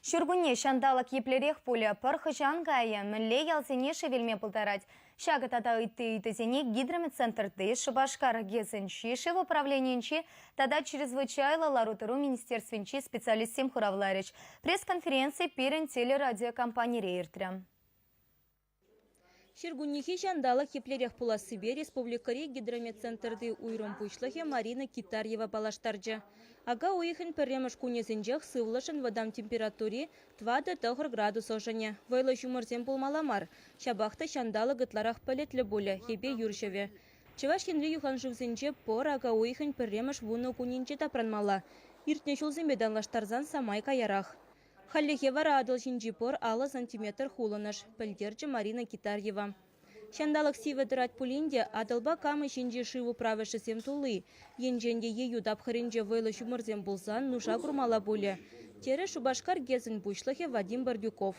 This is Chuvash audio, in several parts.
Ҫуркунне ҫанталӑк еплерех пулӗ, пӑр хӑҫан кайӗ, мӗнле ялсене шевелме пултарать, ҫакӑ тата ытти ыйтусене Гидромедцентрти, Шупашкар ГЭСӗнчи, шыв управленийӗнчи тата чрезвычайлӑ лару-тӑру министерствинчи специалистсем хуравларӗҫ. Пресс-конференци пирӗн телерадиокомпанире иртрӗ. Ҫуркуннехи ҫанталӑк еплерех пулассипе республикӑри гидрометцентрти уйрӑм пуҫлӑхӗ Марина Китарьева паллаштарчӗ. Ака уйӑхӗн пӗрремӗш кунӗсенчех сывлӑшӑн вӑтам температури тӑватӑ тӑхӑр градус ӑшӑнӗ. Вӑйлӑ ҫумӑрсем пулмалла мар, ҫапах та ҫанталӑк ытларах пӗлӗтлӗ пулӗ, йӗпе юр ҫӑвӗ. Чӑваш Енри юханшывсенче пӑр ака уйӑхӗн пӗрремӗш вунӑ кунӗнче тапранмалла. Иртнӗ ҫулсемпе танлаштарсан самай каярах. Хальлӗхе вара Атӑл ҫинчи пӑр алӑ сантиметр хулӑнӑш, пӗлтерчӗ Марина Китарьева. Ҫанталӑк сивӗ тӑрать пулин те Атӑлпа Кама ҫинчи шыв управӗшӗсем тулли, енчен те ейӳ тапхӑрӗнче вӑйлӑ ҫумӑрсем пулсан нуша курмалла пулӗ, терӗ Шупашкар ГЭСӗн пуҫлӑхӗ Вадим Бордюков.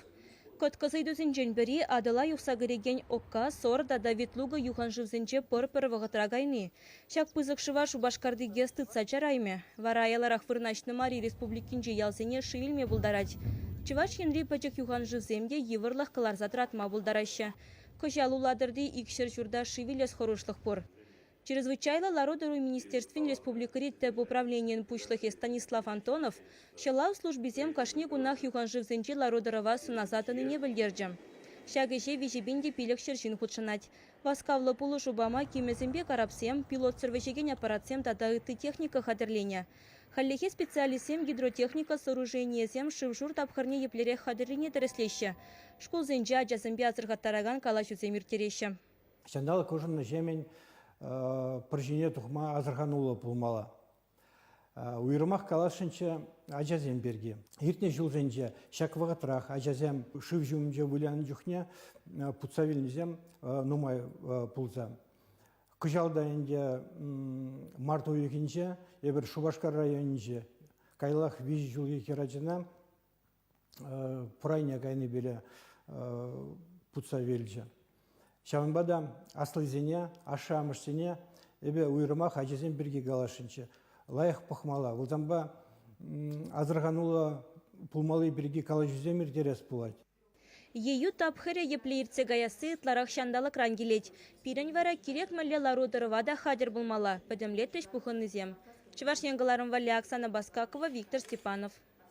Кӑткӑс ыйтусенчен пӗри Атӑла юхса кӗрекен Окка, Сор тата Ветлуга юханшывсенче пӑр пӗр вӑхӑтра кайни, Ҫак пысӑк шыва Шупашкарти ГЭС тытса чараймӗ. Вара аяларах вырнаҫнӑ мари республикинчи ялсене шыв илме пултарать. Чӑваш Енри пӗчӗк юханшывсем те йывӑрлӑх кӑларса тӑратма пултараҫҫӗ. Кӑҫал Улатӑрти икҫӗр ҫурта шыв илес хӑрушлӑх пур. Чрезвычайлӑ лару-тӑру министерствин республикӑри тӗп управленийӗн пуҫлӑхӗ Станислав Антонов ҫӑлав службисем кашни кунах юханшывсенчи лару-тӑрӑва сӑнаса тӑнине пӗлтерчӗ. Ҫак ӗҫе виҫӗ пин те пилӗк ҫӗр ҫын хутшӑнать. Васкавлӑ пулӑшу пама кимӗсемпе карапсем, пилотсӑр вӗҫекен аппаратсем тата ытти техника хатӗрленӗ. Хальлӗхе специалистсем гидротехника сооруженийӗсем шыв-шур тапхӑрне еплерех хатӗррине тӗрӗслеҫҫӗ, шкулсенче ачасемпе асӑрхаттаракан калаҫусем ирттереҫҫӗ. Ҫанталӑк ӑшӑннӑҫемӗн пӗр ҫине тухма асӑрхануллӑ пулмалла. Уйрӑмах каласшӑнччӗ ачасем пирки. Иртнӗ ҫулсенче ҫак вӑхӑтрах ачасем шыв ҫумӗнче вылянӑ чухне путса вилнисем нумай пулса. Кӑҫал та ӗнтӗ март уйӑхӗнче эпир Шупашкар районӗнче каялах виҫӗ ҫулхи хӗрачана пурайне кайнипеле путса вилчӗ. Ҫавӑнпа та аслисене, ашшӗ-амӑшсене эпӗ уйрӑмах ачасем пирки каласшӑнччӗ. Лайӑх пӑхмалла, выртанпа асӑрхануллӑ пулмалли пирки калаҫусем ирттерес пулать. Ейӳ тапхӑрӗ епле иртсе каясси ытларах ҫанталӑкран килет. Пирӗн вара кирек мӗнле лару-тӑрӑва та хатӗр пулмалла, пӗтӗмлетрӗҫ пухӑннисем Чӑваш Ен кӑларӑм валли Оксана Баскакова, Виктор Степанов.